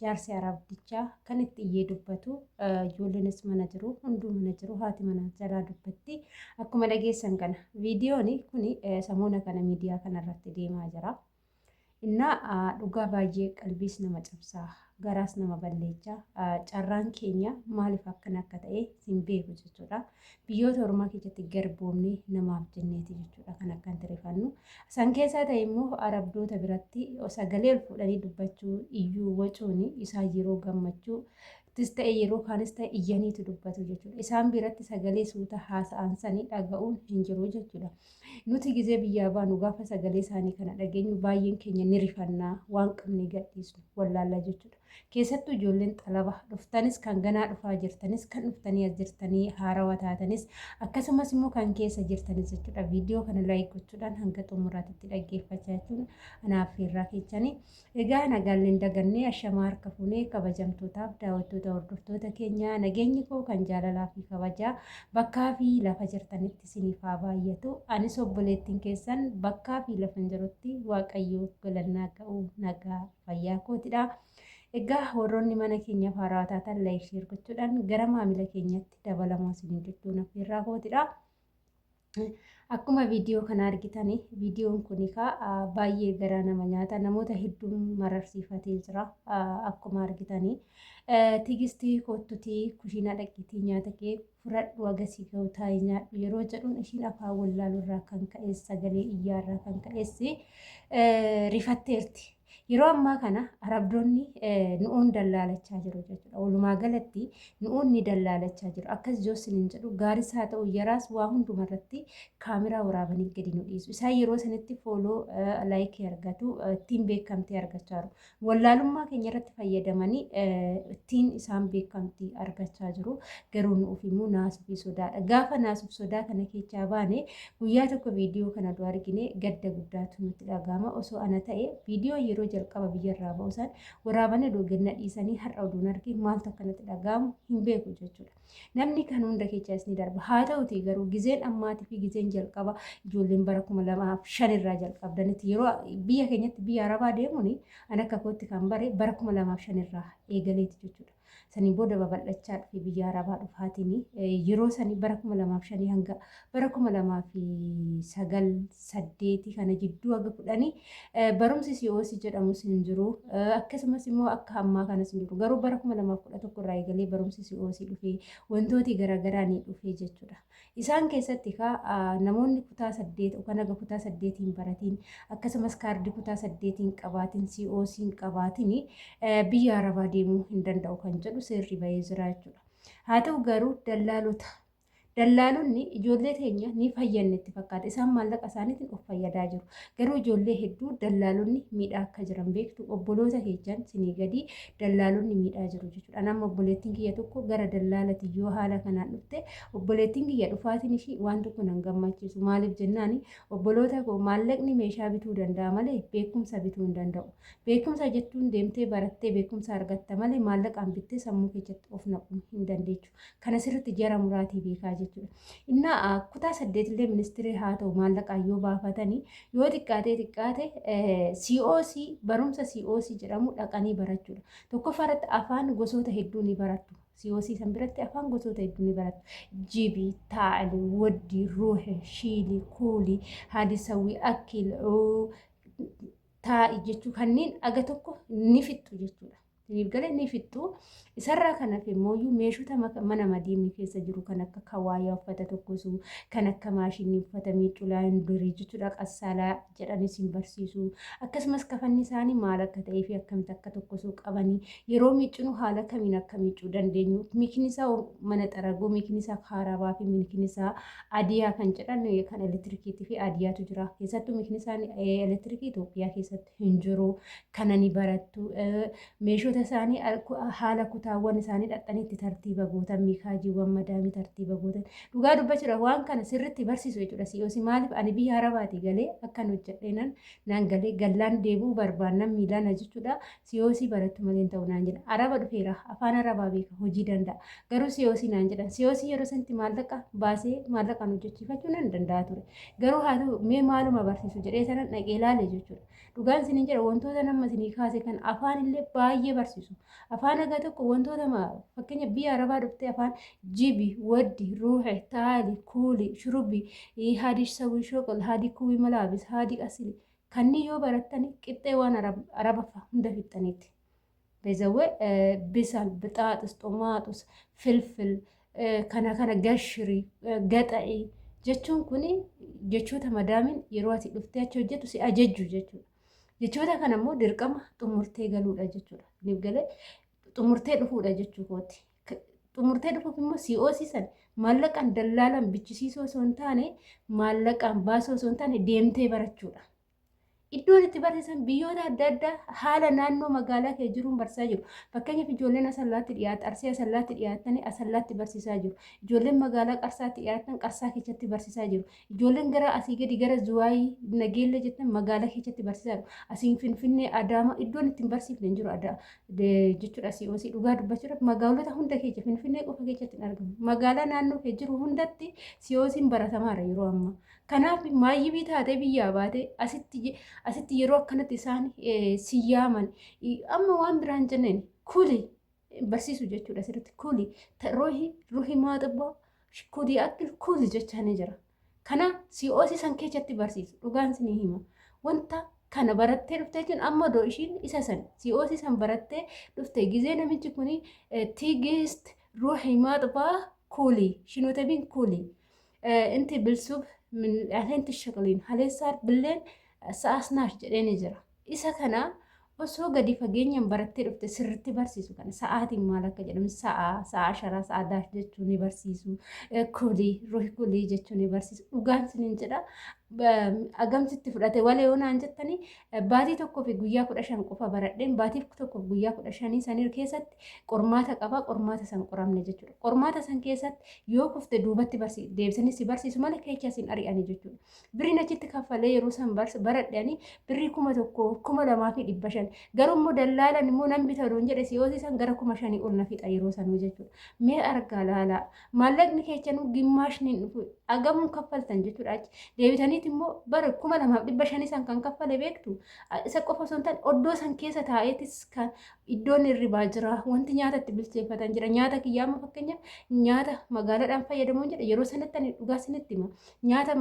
jaarsi arabdichaa kan itti iyyee dubbatu ijoolleenis mana jiru hunduu mana jiru haati mana jalaa dubbatti akkuma dhageessan kana viidiyoon kun samoona kana miidiyaa kanarratti deemaa jira. Innaa dhugaa baay'ee qalbiis nama cabsaa garaas nama balleechaa carraan keenya maaliif akkana akka ta'e hin beeku jechuudha. Biyyoota ormaa keessatti garboomnee namaaf jenneeti jechuudha kan akkan tirifannu. San keessaa ta'e immoo arabdoota biratti sagalee ol fuudhanii dubbachuu iyyuu wacuun isaan yeroo gammachuu tis ta'e yeroo kaanis ta'e iyyaniitu dubbatu jechuudha. Isaan biratti sagalee suuta haasa'an sanii dhaga'uun hin jiru jechuudha. Nuti gizee biyyaa baanu gaafa sagalee isaanii kana dhageenyu baay'een keenya ni rifannaa waan qabne gadhiisnu wallaallaa jechuudha. Keessattuu ijoolleen xalaba dhuftanis kan ganaa dhufaa jirtanis kan dhuftanii as jirtanii haarawa taatanis akkasumas immoo kan keessa jirtanis jechuudha viidiyoo kana laayik gochuudhaan hanga xumuraatitti dhaggeeffachaa jechuun anaaf irraa keechanii egaa nagaalleen dagannee ashamaa harka fuunee kabajamtootaaf daawwattoota hordoftoota keenyaa nageenyi koo kan jaalalaa fi kabajaa bakkaa fi lafa jirtanitti isiniif haa baay'atu anis obboleettiin keessan bakkaa fi lafa jirutti waaqayyoo galannaa ga'u nagaa fayyaa kootidha. Egaa warroonni mana keenyaaf haaraa taatan laayik sheer gochuudhaan gara maamila keenyatti dabalamaa isiniin jechuun affeerraa kootidha. Akkuma viidiyoo kana argitan viidiyoon kun baay'ee garaa nama nyaata namoota hedduun mararsiifatee jira akkuma argitanii tigistii koottutii kushiinaa dhaqiitii nyaata kee fudhadhu hagasii gahu taa'ii nyaadhu yeroo jedhuun ishiin afaan wallaaluu irraa kan ka'es sagalee iyyaa irraa kan ka'es rifatteerti. Yeroo ammaa kana arabdoonni nu'uun dallaalachaa jiru jechuudha. Walumaa galatti nu'uun ni dallaalachaa jiru. Akkas joossin hin jedhu gaaris haa ta'u yaraas waa hundumarratti kaameraa waraabanii gadi nu dhiisu. Isaan yeroo sanitti fooloo laayikii argatu ittiin beekamtee argachaa jiru. Wallaalummaa keenya irratti fayyadamanii ittiin isaan beekamtii argachaa jiru. Garuu nuuf immoo naasuu fi sodaadha. Gaafa naasuuf sodaa kana keessaa baane guyyaa tokko viidiyoo kana dura argine gadda guddaatu nutti dhaga'ama. Osoo ana ta'e viidiyoo yeroo jalqaba biyyarraa ba'u san waraabanii oduu ganna dhiisanii har'a oduun arge maaltu akkanatti dhaga'amu hin beeku jechuudha. Namni kan hunda kechaas ni darba. Haa ta'uti garuu gizeen ammaatii fi gizeen jalqaba ijoolleen bara kuma lamaaf shan irraa jalqabdanitti yeroo biyya keenyatti biyya arabaa deemuun an akka kootti kan bare bara kuma lamaaf shan irraa eegaleeti jechuudha. Sanii booda babal'achaa dhufe biyya arabaa dhufaatiin yeroo sanii bara kuma lamaaf shanii hanga bara 2009, 8 kana jidduu haga 10 barumsi COC jedhamus hin jiru. Akkasumas immoo akka ammaa kanas hin jiru. Garuu bara 2011 irraa eegalee barumsi COC dhufee wantooti garaagaraa ni dhufee jechuudha. Isaan keessatti kaa namoonni kutaa 8 kan haga kutaa 8 hin baratiin akkasumas kaardii kutaa 8 hin qabaatiin COC hin qabaatiin biyya Arabaa deemuu hin danda'u kan jedhu seerri bahee jira jechuudha. Haa ta'u garuu dallaalota Dallaalonni ijoollee teenya ni fayyanne itti fakkaata. Isaan maallaqa isaaniitiin of fayyadaa jiru. Garuu ijoollee hedduu dallaalonni miidhaa akka jiran beektu obboloota keessan sinii gadii dallaalonni miidhaa jiru jechuudha. Nama obboleettiin kiyya tokko gara dallaalati yoo haala kanaan dhufte obboleettiin kiyya dhufaatiin ishii waan tokko nan gammachiisu. Maaliif jennaan obboloota koo maallaqni meeshaa bituu danda'a malee beekumsa bituu hin danda'u. Beekumsa jechuun deemtee barattee beekumsa argatta malee maallaqaan bittee sammuu keessatti of naquu hin dandeechu. Kan asirratti jara muraatii beekaa jechuudha. Innaa kutaa saddeetillee ministirii haa ta'u maallaqaan yoo baafatanii yoo xiqqaatee xiqqaate COC barumsa COC jedhamu dhaqanii barachuudha. Tokkoffaa irratti afaan gosoota hedduu ni barattu. COC san biratti afaan gosoota hedduu ni barattu. Jibi, taa'ali, waddi, ruuhe, shiili, kuuli, haadisawwi, akkil, taa'i jechuu kanneen aga tokko ni fixxu jechuudha. Saniif gale ni fixxu. Isarraa kan hafe immoo meeshota mana madiimii keessa jiru kan akka kawaayaa uffata tokkosu, kan akka maashinii uffata miiccu laayindarii jechuudha qassaalaa jedhanis hin barsiisu. Akkasumas kafanni isaanii maal akka ta'ee fi akkamitti akka tokkosuu qabanii yeroo miiccinu haala kamiin akka miiccuu dandeenyu miikni isaa mana xaraguu, miikni isaa kaarabaa fi miikni isaa adiyaa kan jedhan kan elektirikiitii fi adiyaatu jira. Keessattuu miikni isaa elektiriikii Itoophiyaa keessatti hin jiru. kana ni barattu. Meeshota isaanii haala kutaawwan isaanii dhaqxanii itti tartiiba gootan miikaajiiwwan madaamii tartiiba gootan dhugaa dubbachuudhaaf waan kana sirriitti barsiisu jechuudha si'oosi maaliif ani biyya harabaatii galee akkan hojjedheenan naan galee gallaan deebi'uu barbaannan miilaan jechuudha si'oosii barattu maleen ta'u naan jedha araba dhufeera afaan arabaa beeka hojii danda'a garuu si'oosii naan jedhan si'oosii yeroo sanatti maallaqa baasee maallaqaan hojjechiifachuu nan danda'a ture garuu haa ta'u mee maaluma barsiisu jedhee sanan dhaqee ilaale jechuudha. Dhugaan isiniin jedha wantoota nama isinii kaase kan afaan illee baay'ee barsiisu. Afaan haga tokko wantoota fakkeenya biyya arabaa dhuftee afaan jibi, waddi, ruuxe, taali, kuuli, shurubi, haadi sawii shoqol, haadi kuwi malaabis, haadi asili. Kanneen yoo barattan qixxee waan araba hundafixxaniiti. Bezawe bisal, bixaaxis, xumaaxus, filfil, kana kana gashiri, gaxa'i jechuun kun jechoota madaamin yeroo ati dhuftee achi hojjetu si ajajju jechuudha. Jechoota kana immoo dirqama xumurtee galuudha jechuudha. Niif galee xumurtee dhufuudha jechuu kooti. Xumurtee dhufuuf immoo si hoosisan maallaqaan dallaalan bichisiisoo osoo hin taane maallaqaan baasoo osoo hin taane deemtee barachuudha. Iddoon itti barsiisan biyyoota adda addaa haala naannoo magaalaa kee jiruun barsiisaa jiru. Fakkeenyaaf ijoolleen asallaatti dhiyaatan, arsii asallaatti dhiyaatanii asallaatti barsiisaa jiru. Ijoolleen magaalaa qarsaatti dhiyaatan qarsaa keessatti barsiisaa jiru. Ijoolleen gara asii gadi gara zuwaayii nageellee jettan magaalaa keessatti barsiisaa jiru. Asiin finfinnee adaama iddoon ittiin barsiifne hin jiru adaa jechuudha asii osii dhugaa dubbachuudhaaf magaalota hunda keessa finfinnee qofa keessatti hin argamu. Magaalaa naannoo kee jiru hundatti siyoosiin baratamaara yeroo ammaa. Kanaaf maayyibii taatee biyyaa baate asitti asitti yeroo akkanatti isaan eh, si yaaman i- amma waan biraan jenneen kuli barsiisu jechuudha asirratti kuli ta- ruhi ruhi maaxabba kuli akkil kuli jechaa ni jira. Kana si hoosisan keessatti barsiisu dhugaan sinii hima. Wanta kana barattee dhufte jechuun amma doo ishiin isa san si hoosisan barattee dhufte gizee namichi kuni eh, tiigist ruhi maaxabaa kuli shinootabiin kuli. Inti bilsuub minil'aanti shaqliin haleessaar billeen sa'aasnaaf jedhee ni jira. Isa kana osoo gadi fageenyaan barattee dhufte sirriitti barsiisu kana sa'aatiin maal akka jedhamu sa'a sa'a asharaa sa'a daaf jechuu ni barsiisu kulii ruhi kulii jechuu ni barsiisu dhugaan sinin jedha agamsitti fudhate walee onaan jettanii Baatii tokkoo fi guyyaa kudha shan qofa baradheen baatii tokkoo fi guyyaa kudha shanii sanir keessatti qormaata qaba qormaata san qoramne jechuudha. Qormaata san keessatti yoo kufte duubatti barsi deebisanii si barsiisu malee keecha sin ari'anii jechuudha. Birriin achitti kaffalee yeroo san baradhanii birrii kuma tokko kuma lamaa fi dhibba shan garuu immoo dallaalan immoo nan bita doon jedhe si'oosii san gara kuma shanii ol na fixa yeroo sanuu jechuudha. Mee argaa laalaa maallaqni keechanuu gimmaashni hin dhufu agamuun kaffaltan jechuudha achi deebitaniit immoo bara kuma lamaaf dhibba shanii san kan kaffale beektu isa qofa osoo hin taane oddoo san keessa taa'eetis kan iddoon hirribaa jira wanti nyaata itti bilcheeffatan jira nyaata kiyyaa amma fakkeenyaaf nyaata magaalaadhaan fayyadamuun jedha yeroo sanatti ani dhugaa sinitti hima nyaata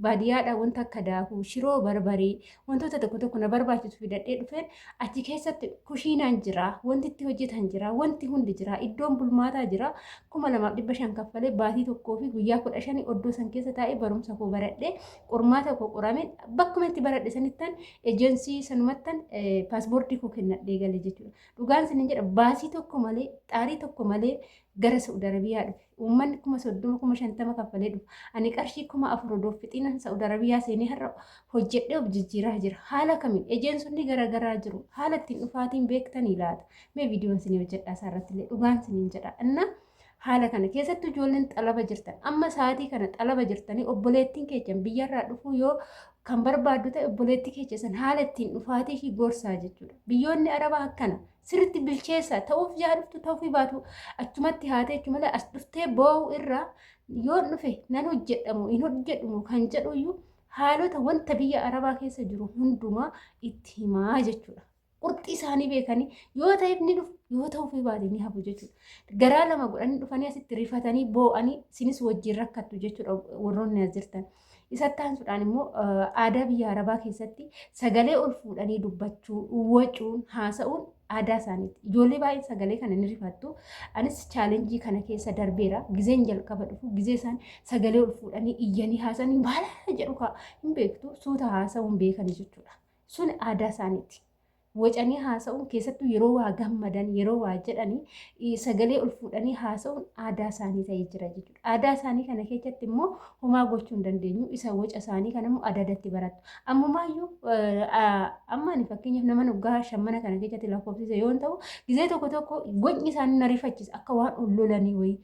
baadiyyaadhaan wanta akka daakuu shiroo barbaree Wantoota tokko tokko na barbaachisu fidadhee dhufeen achi keessatti kushiinaan jira, wanti itti hojjetan jira, wanti hundi jira, iddoon bulmaataa jira. kuma lamaaf dhibba shan kaffalee baatii tokkoo fi guyyaa kudha shanii oddoo san keessa taa'ee barumsa koo baradhee qormaata koo qorame bakkuma itti baradhe sanittan ejensii sanumattan paaspoortii koo kennadhee gale jechuudha. Dhugaan sin jedha baasii tokko malee xaarii tokko malee gara Saudi Arabiyaa dhufe. Uummanni kuma soddoma kuma shantama kaffalee dhufa. Ani qarshii kuma afur odoo fixinan Sa'ud Arabiyaa seenee har'a hojjedhee of jijjiiraa jira. Haala kamiin ejeensonni garagaraa jiru. Haala ittiin dhufaatiin beektanii laata? Mee viidiyoon sinii hojjedhaa isaa irratti illee dhugaan siniin jedha. Inna haala kana keessattuu ijoolleen xalaba jirtan amma sa'aatii kana xalaba jirtanii obboleettiin keessan biyyarraa dhufuu yoo kan barbaaddu ta'e obboleettii keessan haala ittiin dhufaatii ishii gorsaa jechuudha. Biyyoonni Arabaa akkana sirritti bilcheessa ta'uuf yaa dhuftu ta'uufii baatu achumatti haatee jechuun malee as dhuftee boo'u irraa yoo dhufe nan hojjedhamu hin hojjedhumu kan jedhuyyuu haalota wanta biyya arabaa keessa jiru hundumaa itti himaa jechuudha. Qurxii isaanii beekanii yoo ta'eef ni dhufu yoo ta'uuf baate ni hafu jechuudha. Garaa lama godhanii dhufanii asitti rifatanii boo'anii isinis wajjin rakkattu jechuudha warroonni as jirtan. Isatti aansuudhaan immoo aadaa biyya Arabaa keessatti sagalee ol fuudhanii dubbachuu, wacuun, haasa'uun aadaa isaaniiti. Ijoollee baay'een sagalee kana ni rifattu. Anis chaalenjii kana keessa darbeera. Gizeen jalqaba dhufu gizee isaan sagalee ol fuudhanii iyyanii haasa'anii maala jedhu kaa hin beektu suuta haasa'uun beekanii jechuudha. Sun aadaa isaaniiti. wacanii haasa'uun keessattuu yeroo waa gammadan yeroo waa jedhanii sagalee ol fuudhanii haasa'uun aadaa isaanii ta'ee jira jechuudha. Aadaa isaanii kana keessatti immoo homaa gochuu hin dandeenyu isa waca isaanii kana immoo adadatti baratu. Ammumaayyuu amma ani fakkeenyaaf nama dhugaa shammana kana keessatti lakkoofsise yoo ta'u gizee tokko tokko wacni isaanii na rifachiisa akka waan ol lolanii wayii.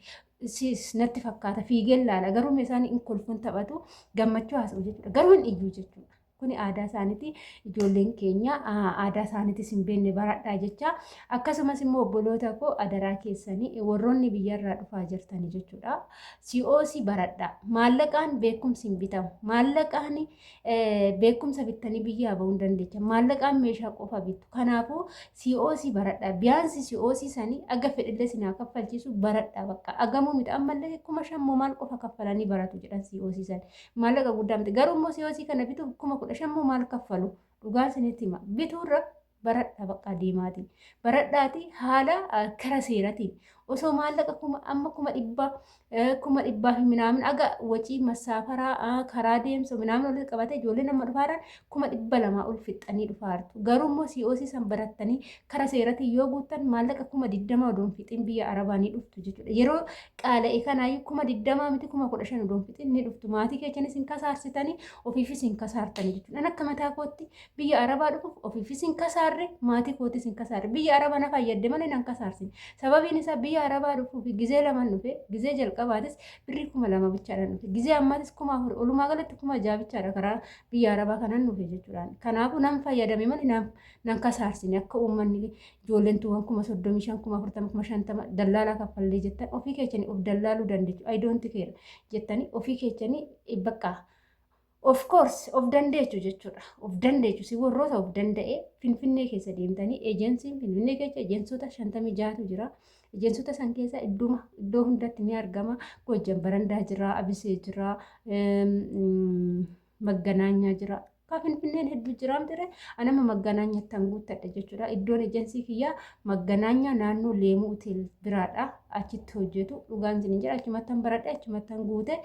Siis natti fakkaata fiigeen laala garuu isaan hin kolfuun taphatu gammachuu haasa'u jechuudha garuu hin iyyuu jechuudha. Kuni aadaa isaaniiti. Ijoolleen keenya aadaa isaaniitis hin beekne baradhaa jecha. Akkasumas immoo obboloota koo adaraa keessanii warroonni biyyarraa dhufaa jirtanii jechuudha. COC baradhaa. Maallaqaan beekumsi hin bitamu. Maallaqaan beekumsa bittanii biyyaa bahuu hin dandeecha. Maallaqaan meeshaa qofa bitu. Kanaafuu COC baradhaa. Biyaansi COC sanii aga fedhillee sinaa kaffalchiisu baradhaa bakka. Agamuu miti ammallee kuma shan moo maal qofa kaffalanii baratu jedhan COC sanii. maallaqa guddaa miti garuu immoo siyoosii kana bituuf kuma kudha shan immoo maal kaffalu dhugaan isinitti hima bituurra baradha baqqaa deemaati baradhaati haala kara seeratiin osoo maallaqa kuma amma kuma dhibba kuma dhibbaa fi minaamin aga wacii masaafaraa karaa deemsa minaamin walitti qabate ijoollee nama dhufaaran kuma dhibba lamaa ol fixxanii dhufaartu. Garuu immoo COC san barattanii kara seeratiin yoo guuttan maallaqa kuma digdama odoon fixin biyya arabaa ni dhuftu jechuudha. Yeroo qaala'e kanaayyuu kuma digdamaa miti kuma kudha shan odoon fixin ni dhuftu. Maatii keechanis hin kasaarsitanii ofiifis hin kasaartanii jechuudha. An akka mataa kootti biyya arabaa dhufuuf ofiifis hin kasaarre maatii kootis hin kasaarre. Biyya arabaa na fayyadde malee nan kasaarsine. Sababiin isaa biyya arabaa dhufuuf gizee lamaan dhufe gizee jalqabaatis birrii kuma lama bichaadhaan dhufe. Gizee ammaatis kuma afur olumaa galatti kuma ja'a bichaadha karaa biyya arabaa kanan dhufe jechuudhaan. Kanaafuu nan fayyadame malee nan, nan kasaarsine akka uummanni ijoolleen tuuwwan kuma soddomii shan kuma afurtama kuma shantama dallaalaa kaffallee jettan ofii keessanii of dallaaluu dandeechu I don't care jettanii ofii keessanii eh, bakka of course of dandeechu jechuudha of dandeechu si warroota of danda'ee finfinnee keessa deemtanii ejensiin finfinnee keessa ejensota shantamii jaatu jira. Ejeensota san keessa idduma iddoo hundatti ni argama. Goojjan barandaa jira, abisee jira, magganaanyaa jira. Kaa finfinneen hedduu jiraam ture anama magganaanyatti an guuttadha jechuudha. Iddoon ejeensii kiyyaa magganaanyaa naannoo leemuu hotel biraadha. Achitti hojjetu dhugaan isin jira achumattan baradhe achumattan guute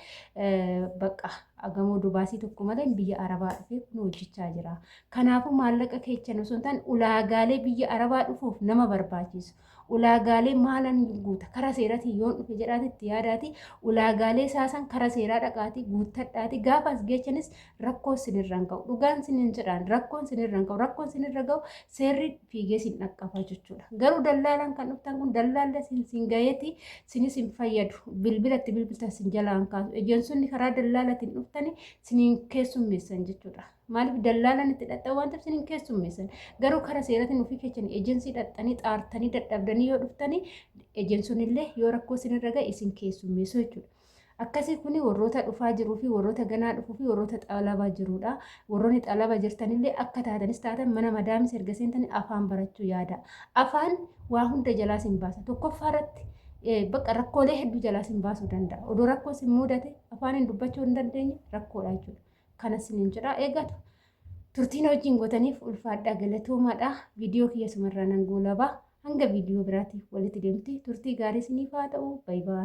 bakka agamoo dubaasii tokko malee biyya arabaa dhufee kun hojjechaa jira. Kanaafuu maallaqa keechan osoo hin taane ulaagaalee biyya arabaa dhufuuf nama barbaachisu. ulaagaalee maalan guuta kara seeratiin yoon dhufe jedhaati itti yaadaati ulaagaalee saasan kara seeraa dhaqaati guuttadhaati gaafa as geechanis rakkoo sinirraan ka'u dhugaan sinin jedhaan rakkoon sinirraan ka'u rakkoon sinirra ga'u seerri fiigee sin dhaqqaba jechuudha garuu dallaalaan kan dhuftan kun dallaalla sin sin gaheeti sinis hin fayyadu bilbilatti bilbiltan sin jalaan kaasu ejeensonni karaa dallaalatiin dhuftani sinin keessummeessan jechuudha. Maaliif dallaalaan itti dhaqxan waan ta'eef isiniin keessummeessan. Garuu karaa seeratiin ofii keessanii ejensii dhaqxanii xaartanii dadhabdanii yoo dhuftanii ejensoon illee yoo rakkoo isinirra ga'e isin keessummeessu jechuudha. Akkasii kun warroota dhufaa jiruu fi warroota ganaa dhufuu fi warroota xalabaa jirudha. Warroonni xalabaa jirtanillee akka taatanis taatan mana madaamis erga seentanii afaan barachuu yaada. Afaan waa hunda jalaas hin baasa. Tokkoffaa irratti bakka rakkoolee hedduu jalaas hin baasuu danda'a. Odoo rakkoos hin mudate afaan hin dubbachuu hin dandeenye rakkoodha jechuudha. Kana sinin jedha eegatu. Turtiin hojiin gootaniif ulfaadhaa galatoomaadha. Viidiyoo kiyya sumarraa nan goolaba. Hanga viidiyoo biraatiif walitti deemti. Turtii gaarii siniif haa ta'u. Baay'ee.